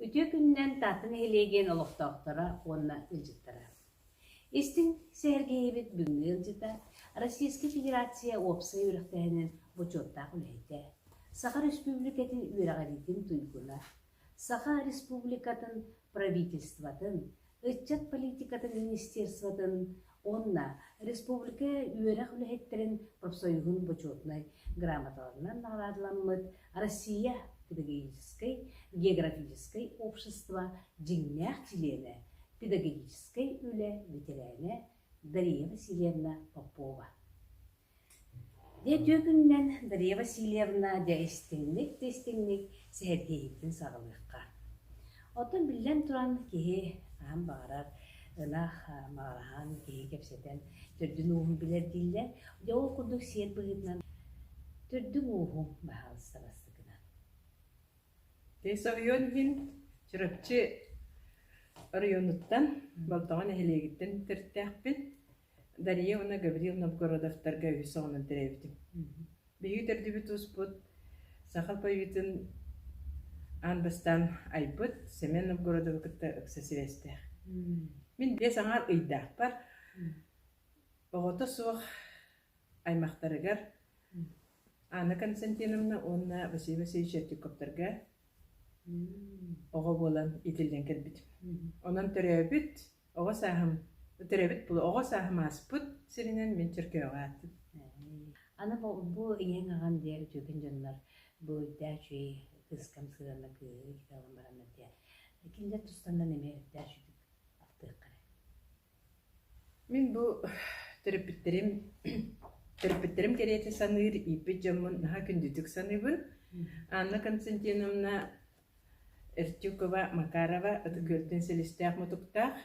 Үтүө күнүнэн Таатта нэһилиэк диэн олохтоохторо уонна ыалдьыттара! Истиҥ сэһэргэһиибит бүгүҥҥү ыалдьыта Российскай Федерация уопсай үөрэхтээһинин бочуоттаах үлэһитэ, Саха Республикатын үөрэҕириитин туйгуна, Саха Республикатын Правительствотын, Ыччат политикатын министерствотын уонна республика үөрэх үлэһиттэрин профсоюһун бочуотунай грамоталарынан наҕараадаламмыт Россия педагогическай, географическай общество дьиҥнээх чилиэнэ, педагогическай үлэ ветерээнэ Дария Васильевна Попова Дьэ түөкүнүнэн Дария Васильевна дьэ истиҥник да истиҥник сэһэргэһиитин саҕалыахха. Оттон биллэн туран киһи хаһан баҕарар ынах маҕараһан киһи кэпсэтэн төрдүн-ууһун билэр дииллэр. Дьэ ол курдук сиэр быһыытынан төрдүн-ууһун баһаалыста бастакынан. Дьэ соруйан иһин Чурапчы оройуонуттан Болтоҕо нэһилиэгиттэн төрүттээхпин. Дария уонна Гаврил Новгородовтарга үһүс оҕонон төрөөбүтүм. Биһиги төрдүбүт-туспут саха поэтын аан бастаан айбыт Семен Новгородову кытта ыкса сибээстээх. Мин биэс аҥаар ыйдаахпар оҕото суох аймахтарыгар Анна Константиновна уонна Василий Васильевич Ертюковтарга оҕо буолан итиллэн кэлбитим. Онон төрөөбүт Оҕо сааһым төрөөбүт тылы оҕо сааһым ааспыт сиринэн мин Чөркөөҕө аатым. Аны бу, бу ийэҥ аҕам диэн үтүөкэн дьоннор бу үрдээ үчүгэй кыыскам сыһыана кыыһы иитэлэн бараннар диэн кинилэр тустаннан эмиэ үрдээ үчүгэй ахтыахха Мин бу төрөппүттэрим төрөппүттэрим кэриэтэ саныыр ииппит дьоммун наһаа күндүтүк саныыбын. Анна Константиновна Эртюкова Макарова Ытык-Үөлтэн силистээх-мутуктаах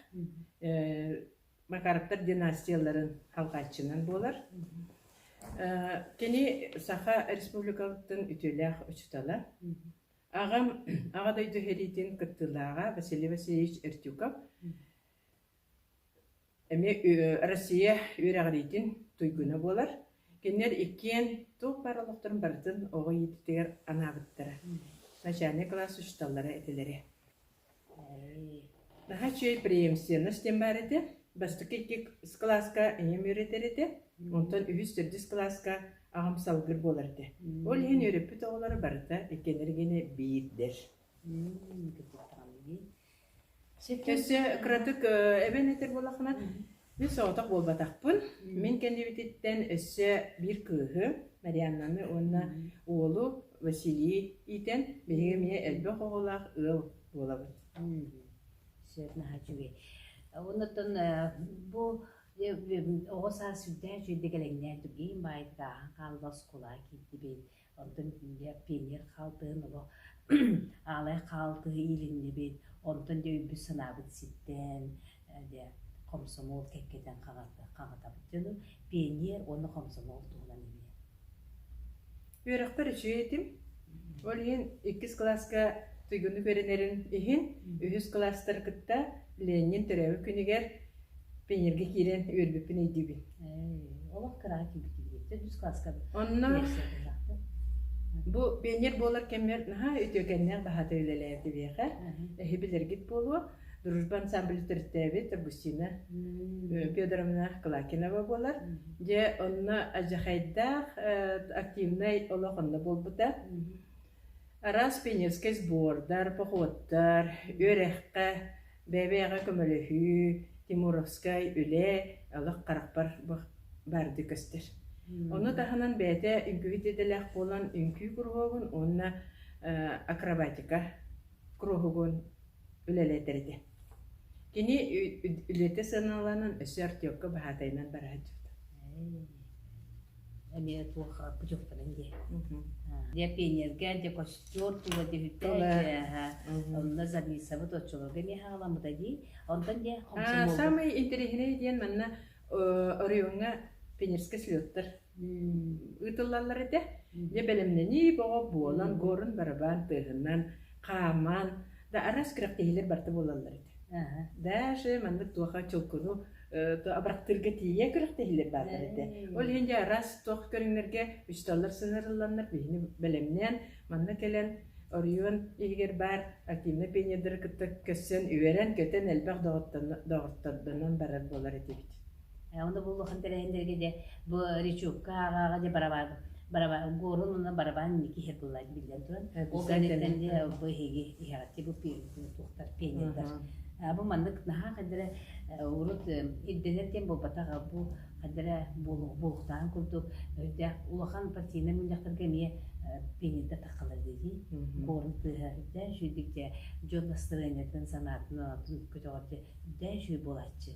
Макаровтар династияларын алҕааччынан буолар. Кини Саха Республикатыттан үтүөлээх учуутала. Аҕам Аҕа дойду сэриитин кыттыылааҕа Василий Васильевич Эртюков. Эмиэ Россия үөрэҕириитин туйгуна буолар. Кинилэр иккиэн туох баар олохторун барытын оҕо иитиитигэр анаабыттара. Начальнай кылаас учууталлара этилэрэ. Наһаа үчүгэй преемственность диэн баар этэ. Бастакы икки кылааска ийэм үөрэтэр этэ. Онтон үһүс төрдүс кылааска аҕам салгыр буолар этэ. Ол иһин үөрэппит оҕолоро барыта иккилэригине биирдэр. Өссө кыратык эбэн этэр буоллаххына, мин соҕотох буолбатахпын. Мин кэннибититтэн өссө биир кыыһы Марианнаны уонна уолу Василий иитэн биһиги эмиэ элбэх оҕолоох ыал буолабыт. Сөп наһаа үчүгэй. Оннуттан бу оҕо саас сүрдээх үчүгэйдик кэлэҥнээн түргээн баайдык ааһан хаалла оскуолаҕа киирдибит. Оттон инде пионер хаалтыһын олох аалай хаалтыһы иилиннибит, онтон дьэ өйбүт-санаабыт ситтээн, дьэ хомсомуол кэккэтэн хаҕытабыт дьону. Пионер уонна хомсомуол туһунан билиэм. Үөрөхпөр үчүгэй этим. Ол иһин иккис кылааска туйгуннук үөрэнэрим иһин үһүс кылаастар кытта Ленин төрөөбүт күнүгэр пионерга киирэн үөрбүппүн өйдүүбүн. Олох кыраҕа киирбитим. Төрдүс класскабыт. Онно бу пионер буолар кэммэр наһаа үтүөкэннээх баһаата үлэлээбит биһиэхэ. Эһи билэргит буолуо. Дружба ансамбль төрүттээбит Августина Федоровна Клакинова буолар. Дьэ, онно адьахайдаах активнай олох онно буолбута. Араас пионерскай сбордар, походтар, үөрэххэ, бэйэ-бэйэҕэ көмөлөһүү, тимуровскай үлэ, олох харахпар баардыы көстөр. Ону таһынан бэйэтэ үҥкүүһүт идэлээх буолан үҥкүү куруһуогун уонна акробатика куруһугун үлэлэтэр этэ Кини үлэтэ сыаналанан өссө артёкка баһаатайынан бара сылдьыбыта эмиэ туохха путевканан дии Дьэ пионерга дьэ костер тула түһүттэ онно Зависовы оччолорго эмиэ саҕаламмыта дии онтон дьэ саамай интэриэһинэй диэн манна оройуоҥҥа пионерскай слеттар ыытыллаллар этэ. Дьэ бэлэмнэнии бөҕө буолан, буорун барабаан тыаһынан хааман, да араас күрэхтэһиилэр барыта буолаллар этэ. Даже маннык туоха чулкуну абырахтыырга тиийэ күрэхтэһиилэр бааллар этэ. Ол иһин дьэ араас туох көрүҥнэргэ фестиваллар сыһыарылланнар биһини бэлэмнээн манна кэлэн оройуон иһигэр баар активнай пионердары кытта көрсөн үөрэн көтөн элбэх доҕортордонон барар буолар этибит. Оны буллуххун тэрээһиннэргэ дьэ бу Ричукка ааҕаҕа дьэ барабаан барабаан Горун уонна барабаан Никиһэ кылла биллэн туран ол кэнниттэн дьэ бу эһиги иһэҕитти бу туохтар пионердар бу маннык наһаа хадара урут ирдэнэр диэн буолбатах бу хадара булуктаан курдук өйдөөх улахан партийнай мунньахтарга эмиэ пионердар таххалар дии Горун тыаһа үрдээн сүүрдүк дьэ дьон настроениетын санаатын көтөҕөр дьэ үрдээн сүүр буолааччы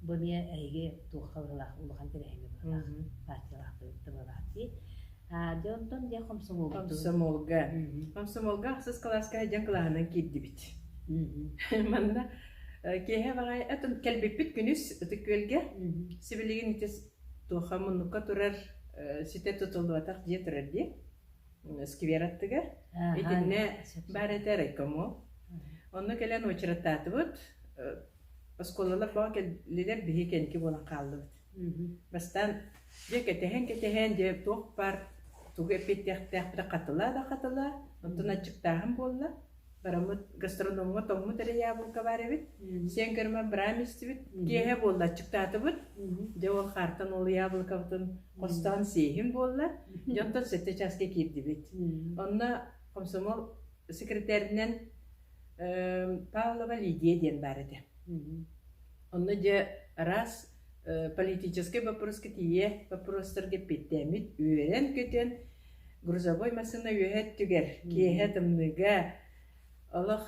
Бу эмиэ эһиги туохха быһыылаах улахан тэрээһиҥҥэ быһыылаах партиялаахтык тыллаах дии. Аа, дьэ онтон дьэ комсомолга. Комсомолга. Комсомолга ахсыс кылааска дьаҥ кылааһынан киирдибит. Манна киэһэ баҕай этим кэлбиппит күнүс Ытык Күөлгэ сибилигин ити туоха муннукка турар ситэ тутулуотах дьиэ турар дии сквер аттыгар итиннэ баар этэ райкомол онно кэлэн очередтаатыбыт Оскуолалар тоҕо кэллилэр биһиги кэники буолан хааллыбыт. Бастаан дьэ кэтэһэн-кэтэһэн дьэ туох баар тугу эппиэттиэхтээхпитэ хатыла да хатыла, оттон аччыктааһын буолла. Бараммыт гастрономҥа тоҥмут эрэ яблоко баар эбит. Сиэн көрүмэн быраам истибит. Киэһэ буолла аччыктаатыбыт. Дьэ ол хаартан ол яблокобытын хостоон сиэһин буолла. Дьэ онтон сэттэ чааска киирдибит. Онно комсомол секретэринэн Павлова Лидия диэн баар этэ. Онно дьэ раз политическай боппуруска тиийэ боппуруостарга эппиэттээммит үөрэн-көтөн грузовой массыына үөһэ өттүгэр киэһэ тымныыга олох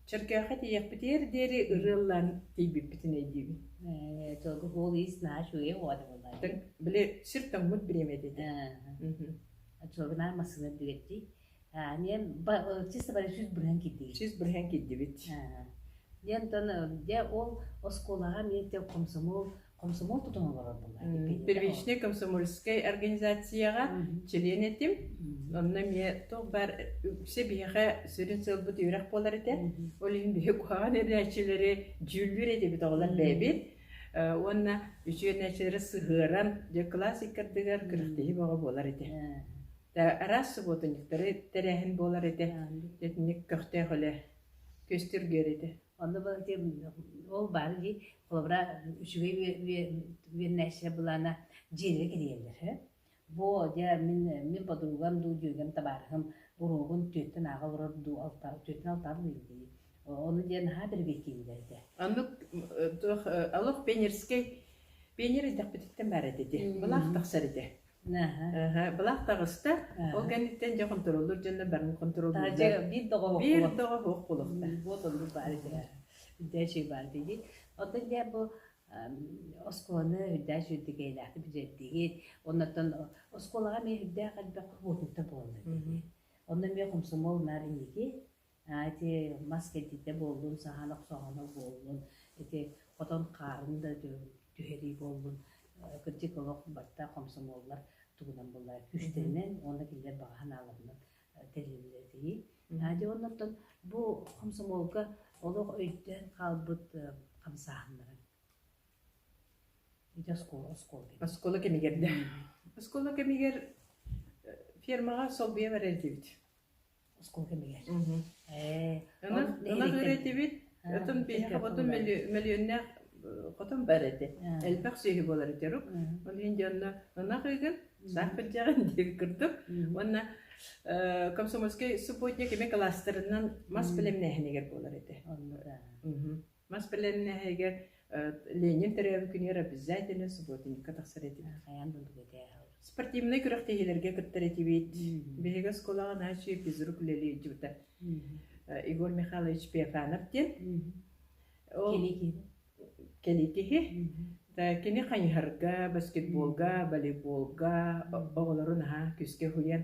чөркөөхө тиийэхпитигэр диэри ырыаллаан тиийбиппитин өйдүүбүн. Только голый знаешь, уехала была. Били сир тоҥмут бириэмэ этэ. Очевидно, массыына дүгэти Диэн чисто сүүс бырыһан киирдигит. Сүүс бырыһан киирдибит. Диэн оттон дьэ ол оскуолаҕа эмиэ комсомол комсомол тутан олорорбуллар. Первичнай комсомольскай организацияҕа чилиэн этим. Онно эмиэ туох баар все биһиэхэ сүрүн сыалбыт үөрэх буолар этэ. Ол иһин биһи куһаҕан эрээччилэри дьүүллүүр этибит оҕолор бэйэбит. Уонна үчүгэйнээччилэри сыһыаран дьэ кылаас иккардыгар күрэхтэһии бөҕө буолар этэ. Араас субуотунньуктары тэрээһин буолар этэ, итинник көхтөөх үлэ, күөстүргүөр этэ. Онно ол баар дии, холобура үчүгэй веннайся былаана дьиэлэрэ кирийэллэр. Бо дьэ мин мин подругам дуу дьүөгэм табаарыһым уруогун түөртэн ааҕа олорор дуу алта түөртэн алтаа буолуой дии. Ону диэн наһаа бэргэттииллэр этэ. Оннук олох пионерскай пионер эрдэхпититтэн баар этэ ити. Былаах тахсар этэ. Былаах таҕыста. Ол кэнниттэн дьэ хонтуруоллуур дьоннор барын хонтуруоллууллар. Биир доҕоһох болуохтаах. Үрдээчи баар дии. Оттон дьэ бу оскуоланы үрдээчи үрдүкэйлээхтик бизэрдиги. Оннортон оскуолаҕа эмиэ үрдээх элбэх уотуута буолла дии. Онно эмиэ хомсомол наар инники. Ити мас кэрдиитэ буоллун, саһан охсоһоно буоллун, ити хотон хаарын да түһэрии буоллун, кырдьык олох барыта хомсомуоллар тугунан буолларай күүстэринэн уонна кинилэр баҕа санааларынан тэриллэр этии. Дьэ оннуттан бу хомсомуолга олох өйдөөн хаалбыт хамсааһыннара. Ити оскуола, оскуола кэмигэр. Оскуола кэмигэр да. Оскуола кэмигэр фермаҕа солбуйа барар этибит. оскуола кэмигэр. Ээ, Ынах ынах үрээтибит. Отон биэхэ ботун мөлүөннээх хотон бар этэ. Элбэх сүөһү буолар этэ рук. Ол иһин дьонно ынах ыгын, саах пырдьаҕын диэн курдук. Уонна комсомольскай субботник кими кластерынан мас бэлэмнээһинигэр буолар этэ. Онно да. Мас бэлэмнэһиигэ Ленин төрөөбүт күнүгэр обязательно субботникка тахсар этибит. Хайаан да этээһэл. Спортивнай күрэхтэһиилэргэ кыттар этибит. Биһиги оскуолаҕа наачыы физрук үлэлии илдьибитэ. Егор Михайлович Пефанов диэн. Кэли киһи. Кини хайыһарга, баскетболга, волейболга оҕолору наһаа күскэ уһуйан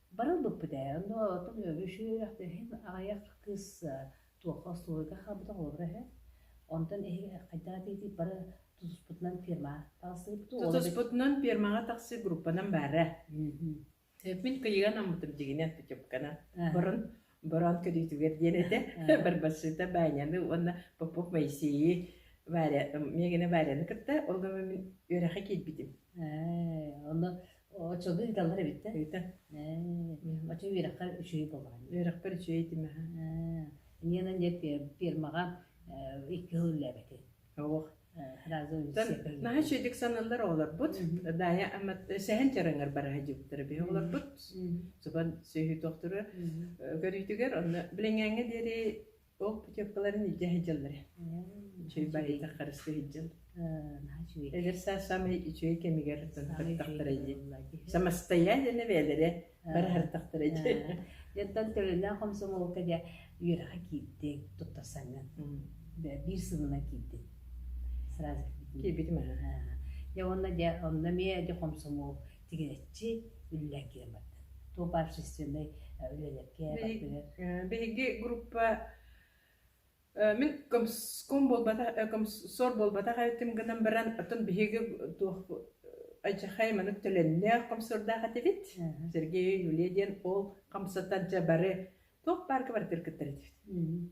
Бары ылбыппыт ээ, онно оттон үөрүү-көтүү үөрэхтээһин аҕыйах кыыс туохха остуоруйга хаалбыта холобура үһү. Онтон эһиги хайдах атыытый бары тутуспутунан ферма таҕыстыгыппыт ол Тутуспутунан фермаҕа тахсыы группанан баара. Мин кыйыан аммытым дигинэ путевканан. Барын Бороон көрүүтүгэр диэн этэ Барбашита Баняны уонна Попов Моисейы Варя миэгинэ Варяны кытта ол гынан мин үөрэххэ киирбитим онно оччону ыыталлар эбит да ыыта оччо үөрэххэр үчүгэй буолаҕын үөрэхпэр үчүгэй этим аха иниэнэн диэн фермаҕа икки сыл үллээбэтин наһаа үчүгэйдик саналлар оҕолорбут даайа сэһэн чараҥар бараһа дьыктара биһи оҕолорбут субан сөйһүтөхтөрө көрүүтүгэр онно билиҥҥэҥҥэ диэри ол путевкаларын илдьэ сылдьаллара үчүгэй байыта харысты сылдьал эдэр саас саамай үчүгэй кэмигэр тантахтара дии самостоятельно бэйэлэрэ бары ардахтара дьэ дьэнтэн төлөлөөх комсомолка дьэ үөрэхэ киирдиҥ туттарсаҥҥын биир сылынан киирдиҥ сразу киирбитим дьэ уонна дьэ онно эмиэ дьэ комсомол тигээччи үллээн киирэн барда туох баар общественнай үлэлэргэ биһиги группа Э, Мин комском буолбатах, э, комсор буолбатах этим гынан баран, отон биһиги туох айчахай манык төлөннөөх комсордаах этибит. Мгм. Сергей Юлия диэн ол хамсатан дьэ бары туох баарга барытыр кыттар этибит. Мгм.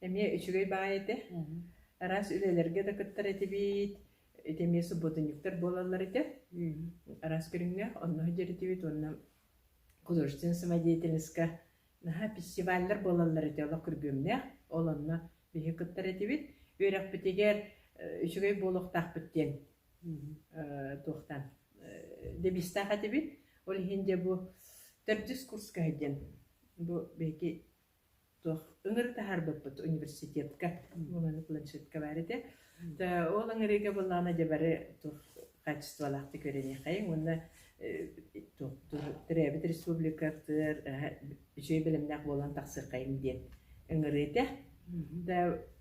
Эмиэ үчүгэй баай этэ. Мгм. Араас үлэлэргэ да кыттар этибит. Ити эмиэ субботунньуктар буолаллар этэ. Мгм. Араас көрүҥнээх онно дьэритибит уонна художественная самодеятельностька Наһаа фестиваллар буолаллар этэ олох күргүөмнээх, ол онно биһи кыттар этибит. Үөрэхпитигэр үчүгэй буолуохтаахпыт диэн туохтан дэбиистээх этибит. Ол иһин дьэ бу төрдүс курскаһы диэн бу биһиги туох ыҥырытаһарбыппыт университетка буоланы планшетка баар этэ. Ол ыҥырыыга буоллаҕына дьэ бары туох хаачыстыбалаахтык үөрэниэххэйиҥ уонна төрөөбүт республикатыгар үчүгэй бэлэмнээх буолан тахсыаххайыҥ диэн ыҥырыыта.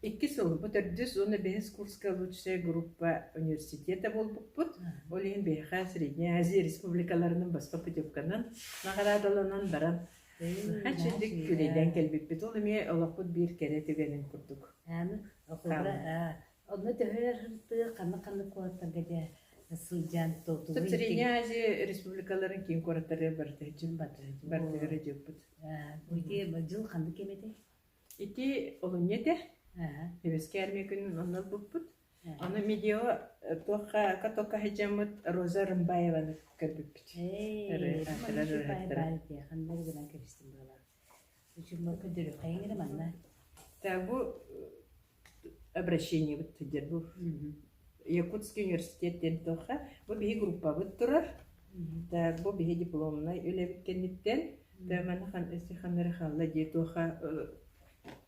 Икки сыл, бу төрдүс уонна бэһис курска лучшая группа университета буолбуппут. Ол иһин биһиэхэ Средняя Азия республикаларынан баска путевканан наҕараадаланан баран Аччык күлүллэн кэлбиппит. Ол эмиэ олохпут биир кэрэ түгэнин курдук. Аны холобура, онно төһө тыа ханнык-ханнык куораттарга дьэ сылдьан тутулуй. Свиньязи республикаларын киин куораттары барыта бартыгара дьыыппыт. Бу дьыл ханнык кэм этэ? Ити олунньу этэ. Үөскээ армия күнүн онно булбуппут. Ону видео туохха токка сылдьаммыт Роза Рымбаеваны көрбүппүт. Тагу обращение бут тидер бу Якутский университет ден тохха бу биһи группабыт турар та бу биһи дипломнай үлэбит кэнниттэн төмәнэ хан өсі ханары халла дии туха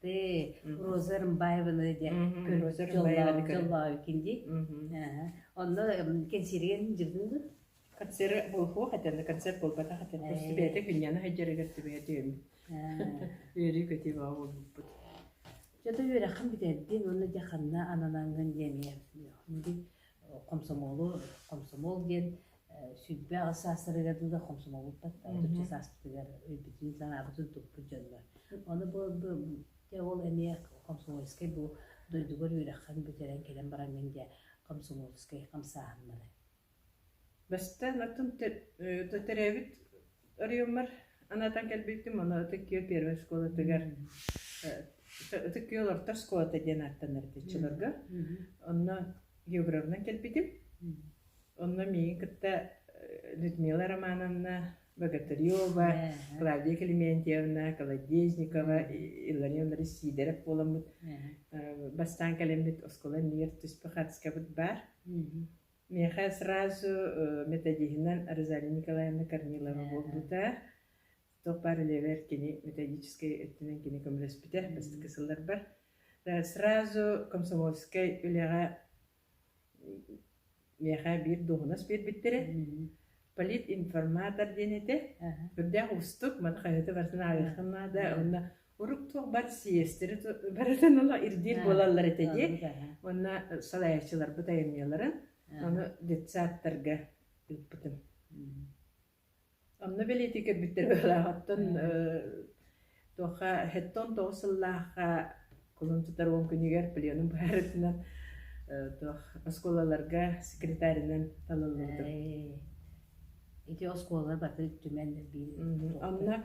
Ты Роза Рымбаеваны диэн көрүҥ дьоллообуккин дии. Онно кэнсиэрген дьыллыгы концерт буолуох этэн, концерт буолбатах этэн, просто бэйэтэ күннэни хайдьарыгар түбэйэ диэм. Үөрүү көтүү баа буолбут. Жото үөрэххин бүтэрдин уонна дьаханна ананангын диэмиэ. Хомсомолу, комсомол диэн сүбэ аҕыс саастарыгар дуу да хомсомолбуппут отучча сааспытыгар өйбүтүн санаабытын туппут дьоннор ону бу дьэ ол эмиэ комсомольскай бу дойдугар үөрэххин бүтэрэн кэлэн бараҥҥын диэ комсомольскай хамсааһыннары бастаан оттон төрөөбүт Оройуоммар анаатан кэлбиппин маны Ытык Күөл первой школатыгар Ытык Күөл орто школата диэн ааттанар ытыаччыларга. Онно географынан кэлбитим. Онно миигин кытта Людмила Романовна, Богатырева, Клавдия Клементьевна, Колодезникова, Иллар Ивановна Сидоров буоламмыт. Бастаан кэлэммит оскуола иннигэр түспүт хатыскабыт баар. Миэхэ сразу методиһынан Розалия Николаевна Корнилова буолбута. Туохпар левэр кини методическай өттүнэн кини көмөлөспүтэ бастакы сылларбар. Сразу комсомольскай үлэҕэ миэхэ биир дуоһунас биэрбиттэрэ. Политинформатор диэн этэ. Үрдээх уустук, маны хаһыаты барытын ааҕыаххын наада. Онно Урук туох бар сиэстэри барытын ыла ирдиир буолаллар этэ дии. Уонна салайааччыларбыт айымньыларын ону детсадтарга ыыппытым. Онно бэлиэтии көрбүттэр быһалааҕыттан туохха хэттон тоҕус сыллаахха кулун тутар уон күнүгэр пленум быһаарытынан туох оскуолаларга секретаринан талыллыбытым. Ити оскуола баты түмэн биир. Онно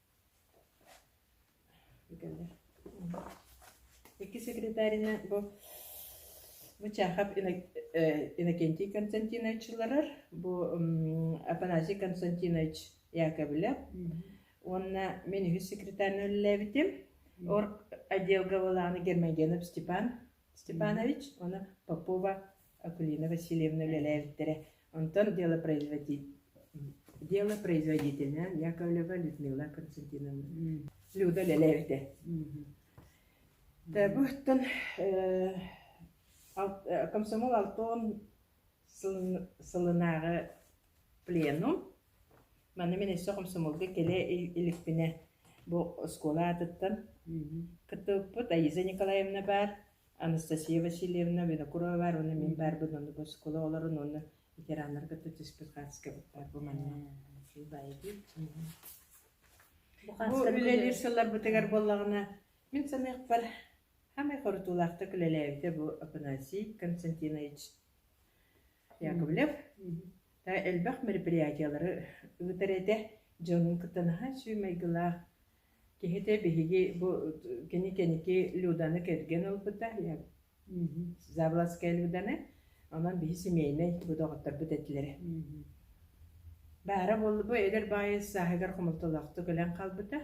Икки секретарина бу Мычахов Иннокентий Константинович ыларар, бу Афанасий Константинович Яковлев уонна мен үһүс секретарьны үлэлээбитим. Отделга балааны Гермогенов Степан Степанович уонна Попова Акулина Васильевна үлэлээбиттэрэ. Онтон делопроизводителинэн Яковлева Людмила Константиновна Люда үлэлээбитэ. Буттан комсомол алтон сылынааҕы пленум Манна мин өссө хомсомуолга кэлэ иликпинэ бу оскуола аатыттан кыттыбыппыт Аиза Николаевна баар, Анастасия Васильевна Винокурова баар уонна мин баарбын онно бу оскуола оҕолорун уонна ветераннары кытта түспүт хааскабыт баар бу манна Бу үлэлиир сылларбытыгар буоллаҕына мин саныахпар самай хорутуулаахтык үлэлээбитэ бу Афанасий Константинович Яковлев элбэх мероприятиелары ыытар этэ. Дьонун кытта наһаа сүүмэйгилээх киһитэ биһиги бу кини кэники Люданы кэргэн ылбыта Завластская Люданы онон биһи семейнай бу доҕотторбут этилэрэ баара буолла бу эдэр баайы сааһыгар хомолтолоохтук өлөн хаалбыта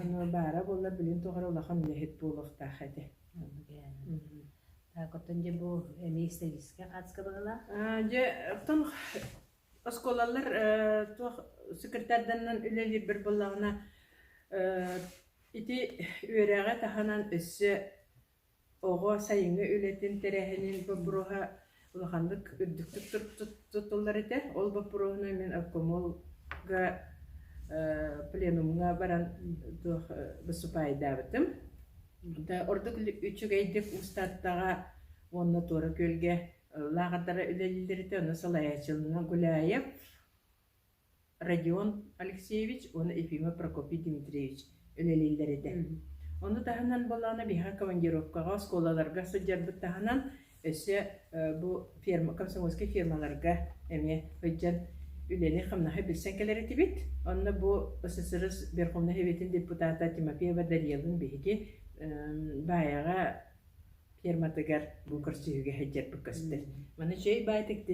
ону баара буолла билин тухары улахан үлэһит буолуохтаах этэ Оттон дьэ бу эмиэ сервиска хаачыстыбалаах. Дьэ, оттон оскуолалар туох секретарданан үлэлиир буоллаҕына, ити үөрэҕи таһынан өссө оҕо сайыҥҥы үлэтин тэрээһинин боппуруоһа улаханнык үрдүктүк туттуллар этэ. Ол боппуруоһунан мин обкомолга пленумҥа баран туох выступаайдаабытым. Ордук үчүгэйдик Уустаттаҕа уонна Туора Күөлгэ лааҕырдара үлэлииллэритэ онно салайааччылана Гуляев Родион Алексеевич уонна Ефимов Прокопий Дмитриевич үлэлииллэр этэ. Ону таһынан буоллаҕына биһиэхэ командировкаҕа, оскуолаларга сылдьарбыт таһынан Өссө бу ферма, комсомольскай фермаларга эмиэ сылдьан үлэни-хамнаһы билсэн кэлэр этибит. Онно бу ССР Верховнай Советин депутата Тимофеева Дариелын биһиги баайаҕа ферматыгар бу көрсүһүүгэ сылдьарбыт көстөр. Маны чэй баайтык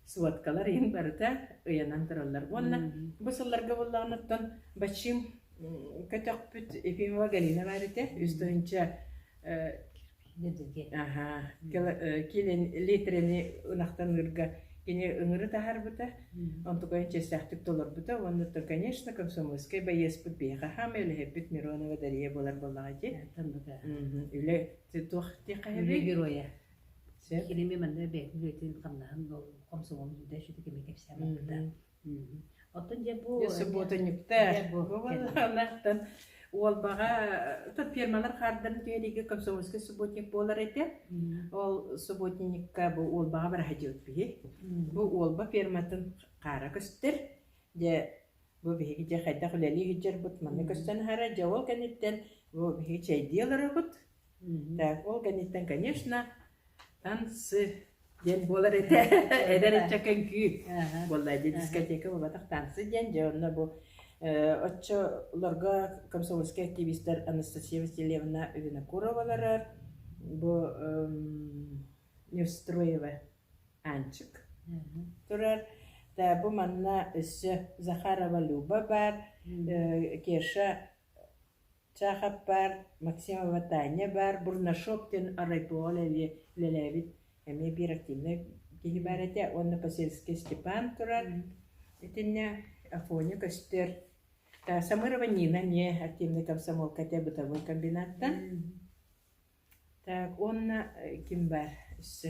сводкалар иһин барыта ыйанан тураллар. Уонна бу сылларга буллаҕыныттан Бачим көтөхпүт Ефимова Галина баар этэ. Үс тыһыынча Киинин литрини ынахтаныырга кини ыҥыры таһаарбыта, онтукайын чэстээхтик толорбута уонна то, конечно, комсомольскай байыаспыт биһиэхэ хаамай үлэһиппит Миронова Дария буолар буоллаҕа ити. Үлэ туох диэххэ геройа. Кирими манна бэйэтин үлэтин хамнаһын хомсомолун да сүтү кэми кэпсээмэппитэ. Оттон дьэ бу субботынньыктар ынахтан Уолбаҕа фирмалар хаардарын түһэриигэ комсомольский субботник буолар этэ. Ол субботникка бу Уолбаҕа бараһадьыт биһи. Бу Уолба фирматын хаара көстөр. Дьэ бу биһиги дьэ хайдах үлэлии сылдьарбыт манна көстөн аһара дьэ ол кэнниттэн бу биһиги чэйдии олоробут. Так, ол кэнниттэн, конечно, танцы диэн буолар этэ. Эдэр ыччакка үҥкүү буолла. Дьэ, дискотека буолбатах танцы диэн, дьэ, онно бу оччолорго комсомольскай активистар Анастасия Васильевна Винокурова олорор. Бу Неустроева Анчык турар. Да, бу манна өссө Захарова Люба бар, Кеша Чахов баар, Максимова Таня баар, Бурнашов диэн оройбуоҕа үлэлиэ үлэлээбит эмиэ биир активнай киһи баар этэ уонна Посельский Степан турар. Итиннэ Афоня көстөр. Э, Самырова Нина эмиэ активнай комсомолка этэ бытовой комбинаттан. Так, уонна э, ким баар өссө?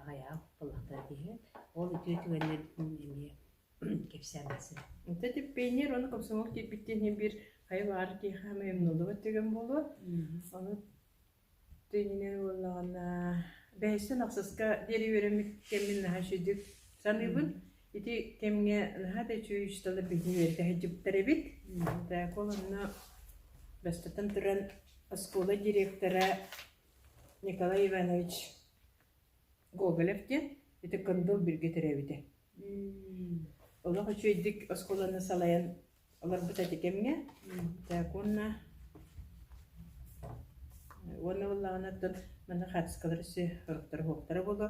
Аҕыйах буоллахтара киһи, ол үтүө түгэннэрбитин эмиэ кэпсээн барсан. Онтон типпэйниэр уонна комсомол киирбиттин иһин бир хайа баар киһи хаамай умнуллубат түгэн буолуо. Ону тыынынан буоллаҕына бэһэстэн ахсыска диэри үөрэммит кэммин наһаа үчүгдүк саныыбын. Ити кэмҥэ наһаа да үчүгэй учуутала биһи үөрдэһэдьиттэр эбит. Так ол онно бастатан туран оскуола директора Николай Иванович Гоголев диэн ити Кындыл Биргэ төрөөбүтэ. Олох үчүгэйдик оскуоланы салайан олорбута ити кэмҥэ. Так уонна уонна буоллаҕына оттон маны хаартыскалар өссө сороктара уһуктара буолуо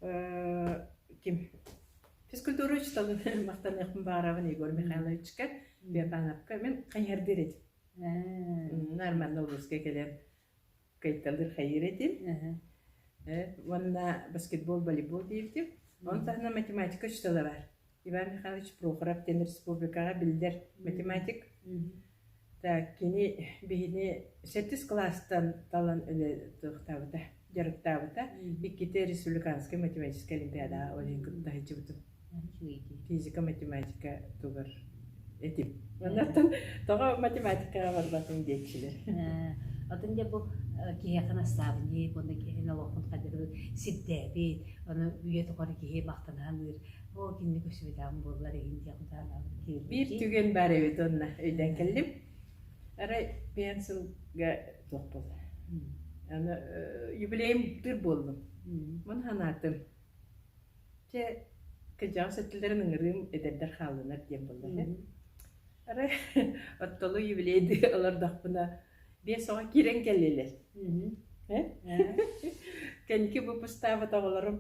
э ким физкультура учууталын махтаныахпын баҕарабын Егор Михайловичка Беатановка мен хайыһардыыр этим. Нормально улууска кэлэн кыйталыыр хайыыр этим уонна баскетбол волейбол диэбитим ону таһынан математика учуутала баар иван михайлович прохоров диэн республикаҕа биллэр математик так кини биһини сэттис кылаастан талан үлэлэтиэхтаабыта дьарыктаабыта иккитэ республиканскай математическай олимпиадаҕа олень кытта сылдьыбытым физика математика тугар этим оннуттан тоҕо математикаҕа барбатым диэччилэр атын дьэ бу киһиэхэ настаабынньык уонна киһини олохпун хадыры сирдээбит ону үйэ тухары киһи махтаныһалыыр о кинини көрсүбүтээм буоллар иһин диэх биир түгэн баар эбит онно өйдөөн кэллим арай пиан сылга туох буолла аны юбилейым тур буоллум мун санаатым Чэ, кырдьаҕас өттүлэрин ыҥырыым, эдэрдэр хааллынар диэн буолла үһү. Арай оттолу юбилей дии олордохпуна биэс оҕо киирэн кэллилэр. Һэ? Кэнники выпустаабыт оҕолорум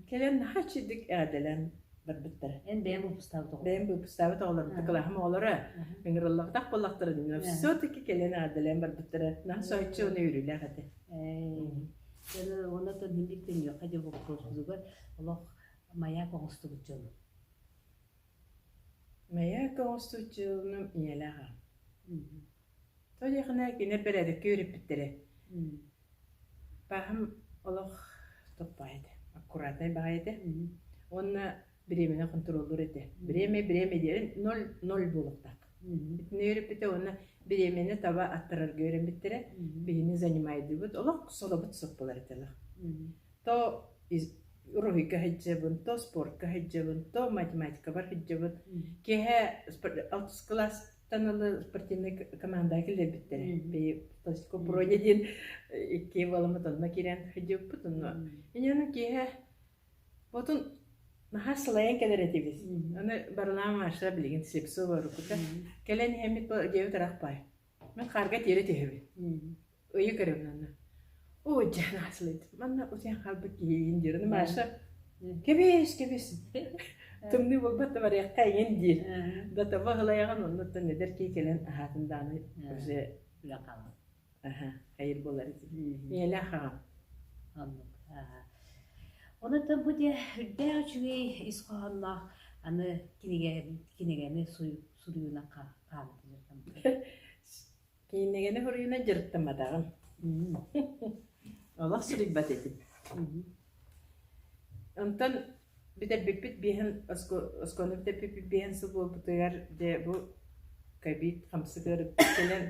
кэлэн наһаа иччитик эҕэрдэлээн барбыттара. Эн бэйэм выпустаабыт оҕолор. Бэйэм выпустаабыт оҕолорум, кылааһым оҕолоро ыҥырыллыбатах буоллахтарын, все-таки кэлэн эҕэрдэлээн барбыттара. Наһаа соһуччу уонна үөрүүлээх этэ. Эээ уонна төннүбүт төннүөххэ диэн боппуруоһугар олох маяк оҥостубут дьон. Маяк оҥостубут дьонум ийэлээх аҕам. Тоойохна кинэ передикки үөрэппиттэрэ. Баһым олох топпаайда, аккуратай баҕайыта. Уонна Бириэмэни хонтуруоллуур этэ. Бириэмэ, бириэмэ диэрин ноль, ноль буолуохтаах. Бүтүннүү үөрэппитэ уонна бириэмэни таба аттарарга үөрэммиттэрэ. Биһини занимайдыыбыт, олох солобут соппулар этэлэр. То уруһуйга сылдьабын, то спортка сылдьабын, то математикабар сылдьабын. Киэһэ алтыс кылаастан ылы спортивнай команда кэлэрбиттэрэ. Бии плоскопуроне диэн икки баламыт онно киирэн сылдьыппыт онно. Иньану киэһэ Отун наһаа сылайан кэлэр этибит. Аны барылаан Маша билигин сипсы оборукута. Кэлэн иһэммит бу диэбит ырақ баай. Мин хаарга тиэрэ түһэбин. Ыйы көрөмүн анна. Оо дьэн аасылыйт. Манна утуйан хаалбыт киһиин диир. Аны Маша кэбис, кэбис. Тымныы буолбат да барыахха эҥин диир. Да таба ылайаҕын оннуттан эдэр кии кэлэн аһаатын дааны уже үлэ хаалар. Аһа, хайыр буолар итиннэ. Миэлэх аҕам. Оннук. Онуттан бу дьэ үрдээх үчүгэй ис хоһоонноох аны кинигэни кинигэни суруйууна хаамтылар. Кинигэни суруйууна дьырыттаматаҕым. Олох суруйбат этим. Онтон бүтэрбиппит биэһин оскуоланы бүтэрбиппит биэһин сыл буолбутугар дьэ бу ковид хамсатыгар кэлэн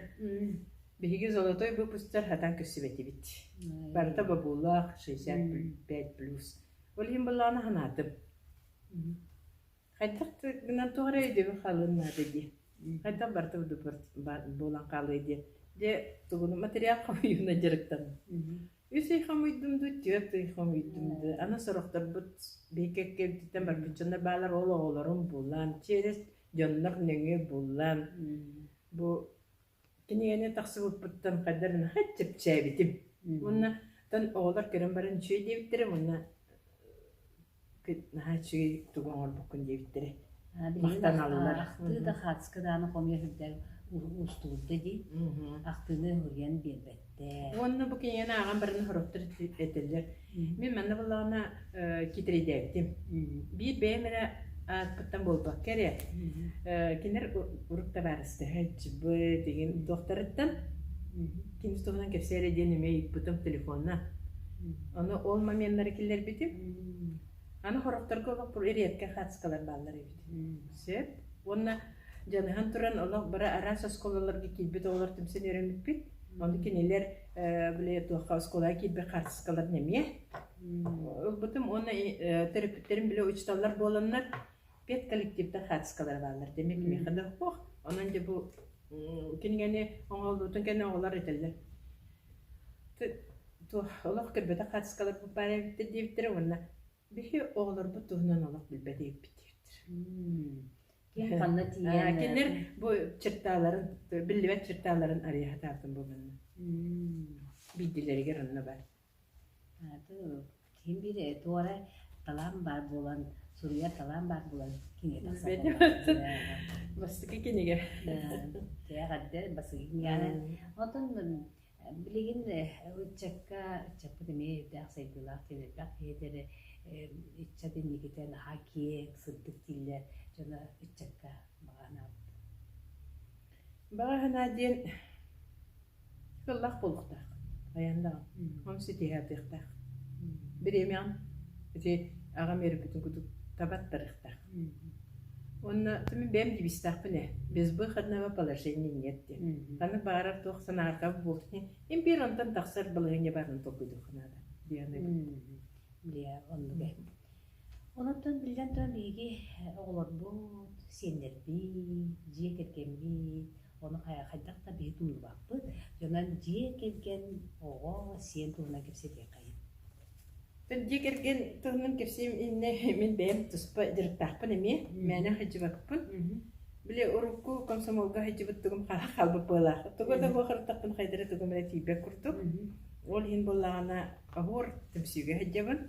биһиги золотой выпустар хатан көрсүбэтибит. Барыта бабуулаах шестьдесят пять плюс. Ол иһин былаана санаатым Хайдах гынан тоҕо эрэ өйдөбүл хаалыан наада дии. Хайдах барыта буолан хаалыай диye. Дьэ, тугуну материал хомуйууна дьарыктаным. Үс ый хомуйдум дуу, түөрт ый хомуйдум дуу. Аны сорохторбут биэккэккэбититтэн барбыт дьоннор баалар ол оҕолорум буоллаан, чиэрэс дьоннор нөҥүө буоллаан. Бу Кинигэни тахсыбыппыттан хайдах эрэ наһаа чэпчээбитим. Уонна оттон оҕолор көрөн баран үчүгэй диэбиттэрэ уонна кыт- наһаа үчүгэй тугу оҥорбуккун диэбиттэрэ. А, билигин Махтаналлар. ахтыы да хаадыска даҕаны хомуйа сылдьар уустугурда дии Мгм. ахтыыны ылыйан биэрбэт. Уонна бу кинигэни ааҕан баран сороттор этэллэр, мин манна буоллаҕына китирийдээбитим. Биир бэйэм эрэ ааспыттан буолбакка эрэ, кинилэр урук табаарыстыһыт, быт, игин доктарыттан ким туһунан кэпсээри диэн эмиэ ыйыппытым телефонна. Ону ол моменнары киллэрбитим. Аны хорохторго олох редко хатскалар бааллар эбит. Сөп. Уонна дьаныһан туран олох бара араас оскуолаларга киирбит оҕолор түмсэн өрөммүппүт. Ону кинилэр били туохха оскуолаҕа киирбит хаартыскаларын эмиэ ылбытым уонна төрөппүттэрим били учууталлар буоланнар педколлективтар хаартыскалара бааллар. Дэмэ кимиэхэ да охпох. Онон дьэ бу кинигэни оҥоһуллуутун кэннэ оҕолор этэллэр олох көрбөтөх хаартыскалар баар эбиттэр диэбиттэрэ уонна Били оҕолорбут туһунан олох билбэт ииппитиир. Ким ханна тиийэн кинилэр бу черталарын биллибэт черталарын арыйа сатаабытым буоланна. Биирдилэригэр онно бар. Ким биир туора талаан баар буолан суруйар талаан баар буолан бастакы кинигэ. Тиэҕэрдэ бастакы киниганы. Отон Билигин ыччакка, ыччаппыт эмиэ өйдөөх, сайдыылаах тиэрдэрдээх ийэлэрэ ыччат инникитэ наһаа киэҥ, сырдык дииллэр дьоно ыччакка баҕанаабыт. Баҕаһынаа диэн ыллах буолуохтаах, хайаан даҕаны онон ситиһэ атыахтаах. Бириэмэҕин ити аҕам үөрбүтүн курдук табаттарыахтаах. Уонна бэйэм дибистэхпин ээ безвыходного положения нет диэн ханнык баҕарар туох санааркаба буолсун импиэр онтон тахсар балаһыанньа баарын толкуйдуохха наада диэн билиэ оннуга онон биллэн туран биһиги оҕолорбут сиэннэрбит дьиэ кэргэммит ону хайдах да биһи туллубаппыт дьонон дьиэ кэргэн оҕо сиэн туһунан кэпсэтиэххэ Дьиэ кэргэн туһунан кэпсиим иннэ мин бэйэм туспа дьарыктаахпын эмиэ мээнэ сылдьыбаппын. Били урукку комсомолга сылдьыбыт тугум хаалан хаалбыт буолаах. Тугу да бу харытахпын хайдары тугум эрэ тиийбэт курдук. Ол иһин буоллаҕына оһуор түмсүүгэ сылдьабын.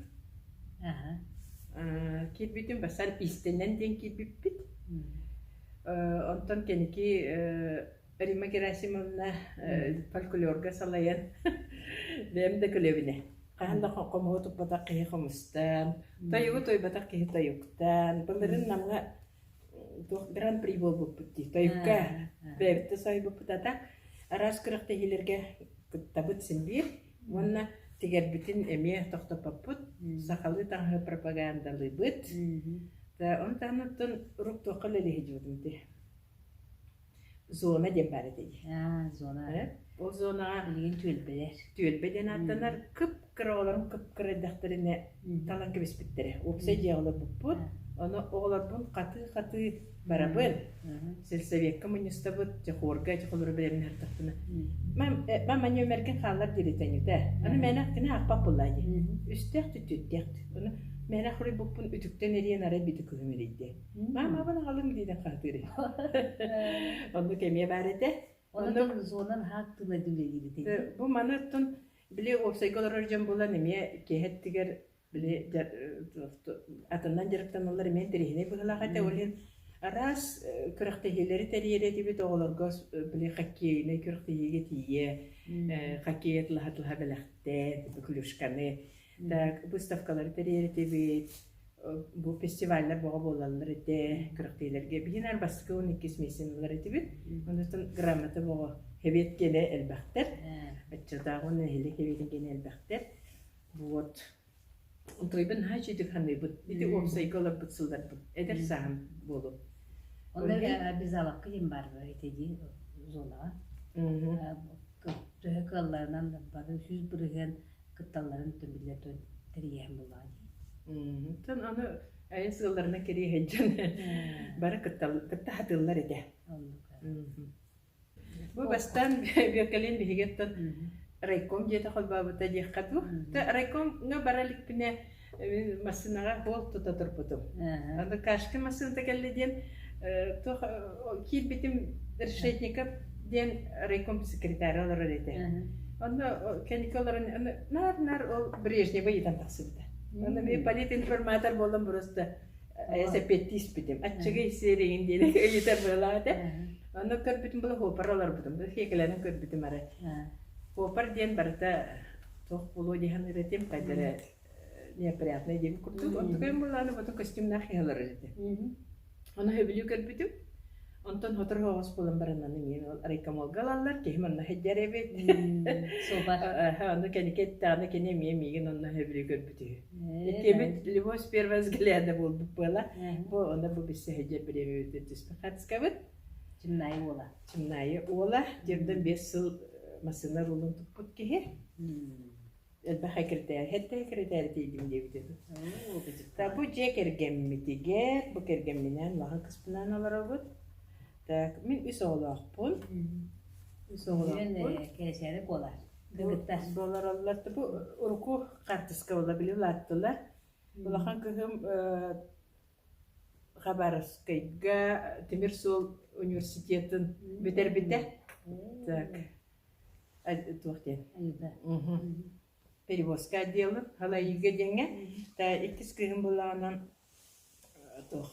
Э, киирбитим бастаан иистэннэн диэн киирбиппит. Э, онтон кэники э, Римма Герасимовна фольклорга салайан бэйэм да көлөбүнэ хаһан да хомуһу туппатах киһи хомустан, тойугу тойбатах киһи тойуктан, былырын намга туох гран-при буолбуппут дии тойукка бэйэбитэ сойбуппут ата араас күрэхтэһиилэргэ кыттабыт синбиир уонна тигэрбитин эмиэ тохтоппоппут сахалыы таҥаһы пропагандалыыбыт онтон оттон урук туохха үлэлиһиджибитим ти Зона диэн баар этэ дии. Аа, зона. Э? Ол зонаҕа билигин түөлбэлэр. Түөлбэ диэн ааттанар кып-кыра оҕолорум кып-кыра эрдэхтэринэ талан кэбиспиттэрэ. Уопсай дьиэ олорбуппут. Ону оҕолорбун хатыы-хатыы барабын. Сельсовекка мунньустабыт, дьэ хуорга дьэ холору бэлэмнээн ардахпына. Мам манья өмөргүн хааллар диэри тэҥүтэ. Аны мээнэ кини ақпақ буллаа дии. Үстээх түттүттээх. Ону мээнэ хоруйбуппун үтүктэн эриэн арай бити күһүмүрүйдэ. Маамабын аҕалыҥ диэтэххэ атыырый. Оннук эмиэ баар этэ. Оннук зона наһаа актыыбайдык үлэлиибит. Бу маны оттон били уопсайга олорор дьон булан эмиэ киэһэ өттүгэр били атынан дьарыктаналлар эмиэ интэриэһинэй быһыылаах этэ. Ол иһин араас күрэхтэһиилэри тэрийэри этибит оҕолорго били хоккейнай күрэхтэһиигэ тиийэ хоккей атылаһа-атылаһа бэлэхтээн клюшканы Выставкалары тэрийэритибит, бу фестиваллар бөҕө буолаллар ити күрэхтэһиилэргэ биһи наар бастакы уон иккис миссияны ылар этибит. Онтон грамота бөҕө эбиэт киэлэ элбэхтэр. Аччатааҕы нэһилиэк эбиэтин киэнэ элбэхтэр. Вот. Утуйбун наһаа үчүгдүк саныыбыт. Ити уопсайга олорбут сылларбыт эдэр сааһым буолу. Онно biz алакка диэн бар этиди зонаҕа. Төһө кыалларынан бары сүүс бырыһыан кытталларын төлүллэр дьон тэрийэһин буллаҕа дии. Тан аны айан сыалларына кириэһин дьон бары кыттаһатыыллар этэ. Бу бастаан Бюркалин биһиги райком диэте холбаабыта диэххэ дуу. Райкомҥа бара иликпинэ массыынаҕа буол тута турбутум. Аны Кашка массыыната кэллэ диэн туох киирбитим Решетников диэн райком секретаря олорор этэ. Онно кэнники олорон наар-наар ол Брежнева ыйытан тахсыбыта. Онно мен политинформатор буолан просто эсэппетти испитим. Аччыгы сериин диэн ыйытар быалаата. Онно көрбүтүм бұл хопар оларбытым. Бұл хекелерін көрбүтім ары. Хопар диэн барыта тоқ болу дихан ыратим қайдары неприятный диэбит курдук онтукайым буолаары бото костюмнаах киһи олорор этэ оны сөбүлүү көрбүтүм онтон хоторо оҕос буолан бараннан эмиэ райкомолга ылаллар киһим онно сылбар Ону кини кетте, аны кини эмиэ миигин онно сөбүлүү көрбүт үһү. Иккибит любовь первого взгляда буолбут буола. Бу онно бу биссэһэддер бириэмэбитин түспүт хатыскабыт. Чымнайы уола. Чымнайы уола. Дьэрден бес сыл э, массыына рулун туппут киһи. Элбэх экирэтээри, эрдэ экирэтээри тиийдим диэбитэ та бу дьиэ кэргэммитигэр, бу кэргэмминээн улахан кыспынаан олоробут. Так, мин үс оҕолоохпун. Үс оҕолоохпун. Кээсээри куолаар. Бу олороллор бу урукку хаартыска була били улааттылар. Улахан кыһым Хабаровскайга тимир суол университетын бүтэрбитэ. Так. туох диэн перевозка отделы халайыыга диэҥҥэ иккис кыыһым былаанан туох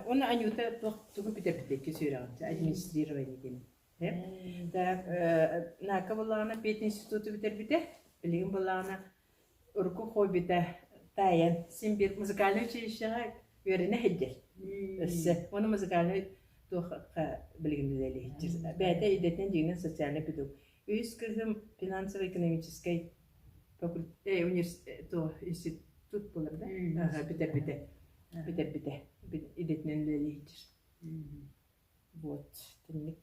уонна аньыыта туох тугу бүтэппитий иккис үөрэҕин администрирование диэн так нака былаана пединституту бүтэрбитэ билигин былаана урукку хоббита таайан син биир музыкальнай училищеҕа үөрэнэ иһэрдэр. Өссө уонна музыкальнай туохха билигин үлэлэһиччи бэйэтэ идэтинэн дьиҥинэн социальнай педагог. Үһүс кыыһым финансово-экономическай факультет, институт буолар да бүтэрбитэ. Бүтэрбитэ. Идэтинэн үлэлэһиччи. Вот, тэнник.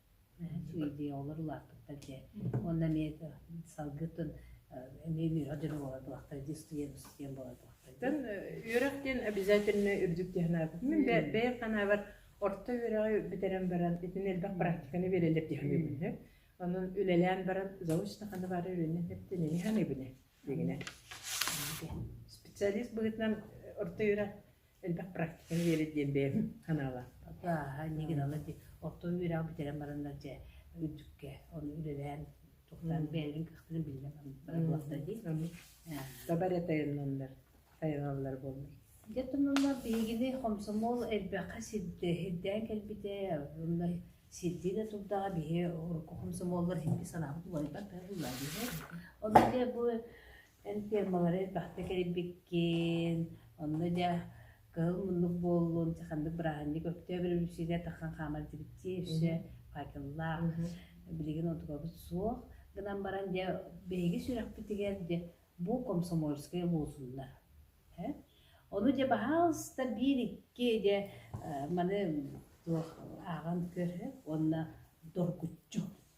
видеолар улааппыттар дьэ уонна эмиэ салгытын эмиэ үөһэ дьоно буолатылахтар дии устуйан устуйан буолатылахтар үөрэх диэн обязательно үрдүк диэн анаабыт мин бэйэм санаабар орто үөрэҕи бүтэрэн баран итини элбэх практиканы биэрэллэр дии саныыбын онон үлэлээн баран заочно ханна баара үрүнэн тэптинини саныыбын дигинэ специалист быһытынан орто үөрэх элбэх практика биэрэр диэн бэйэм санаалаахпын. Ааһа, нигилала ди. Оттон үөрэҕи бүтэрэн бараннар дьэ үрдүккэ оны үлэлээн тухтаан бэйэлэрин кыахтарын биллэн барыллахтар дии. Таба эрэ тайаннаннар тайаналлар буолмай. Дьэ тоннолар биһигини хомсомол элбэххэ сирдээн кэлбитэ онно сирдии да турдаҕа биһи хомсомоллор сирдии санаабыт уларыйбат быһа буулаа биһи. Ону дьэ бу Эн фермалары элбэхтэ кэрийбиккин, онно дьэ кыһыл муннук буоллун, чэ ханнык бырааһынньык өрөбүлүсүйэ тахан хаамар директиэ өссө факеллаах. Билигин онтукабыт суох гынан баран дьэ биһиги сүрэхпитигэр дьэ бу комсомольская лозунна. Ону дьэ баһаалыста биир-икки дьэ маны туох ааҕан көр уонна доргуччу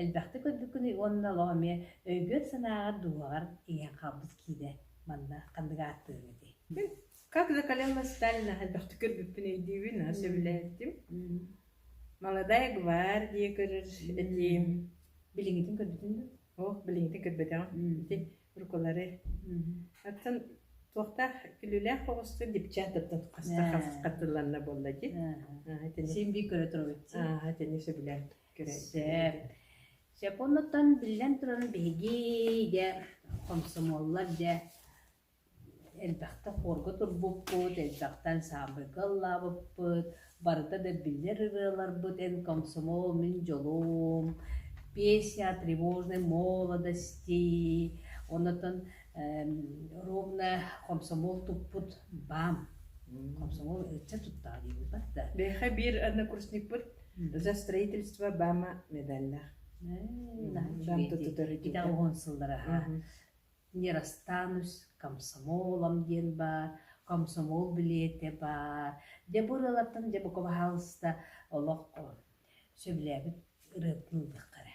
элбэхтик көрбүккүнүй уонна олох эмиэ өйгөр-санааҕар, дууһаҕар тиийэн хаалбыт киинэ манна ханнык ааттыаҥ этэй? Как за колено Сталина элбэхтик көрбүппүн өйдүүбүн, сөбүлээтим. Молодая гвардия көрөр этиим. Билиҥҥитин көрбүтүн дуо? Ох, билиҥҥитин көрбөтөҕүм. Ити урукулары. Оттон туохтаах күлүүлээх оҕустар дипчааттартан хастар хастыланна буолла дии. Син би көрө турабыт. Аа, итини сөбүлээн. Кэрэсэп. Сөп оннуттан биллэн туран биһиги дьэ хомсомуоллар дьэ элбэхтэ хуорга турбуппут, элбэхтэ ансаамбылга ыллаабыппыт, барыта да биллэр ырыаларбыт эн комсомол, мин дьолум, песня тревожной молодости, оннуттан ровно комсомол туппут баам комсомол ыччат туттаҕа диибиппэр да биһиэхэ биир однокурсникпыт за строительство баама медальлаах баам туттутар итинтэн он сыллара аха нерастанус комсомолом диэн баар комсомол билиэтэ баар дьэ бу ырыалартан дьэ бука баһаалыста олох сөбүлээбит ырыатын ылдахха эрэ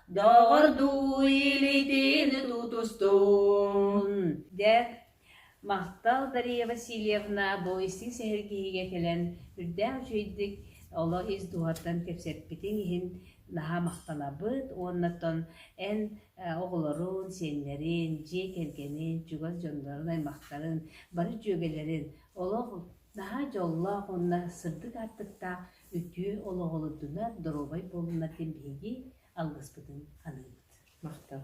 Доҕордуу илиитин тутустун, дэ махтал Дария Васильевна бу истиҥ сэһэргиһиигэ кэлэн үрдээх үчүгэйдик олох ис дууһаттан кэпсэппитиҥ иһин наһаа махтанабыт уонна тон эн оҕолорун, сиэннэрин, дьиэ кэргэнин, чугас дьоннорун аймахтарын, бары дьүөгэлэрин олох наһаа дьоллоох уонна сырдык аартыктаах Үтүө олоҕу олордунар, доруобай буолунар диэн биһиги алгыспытын аныыбыт. Махтал.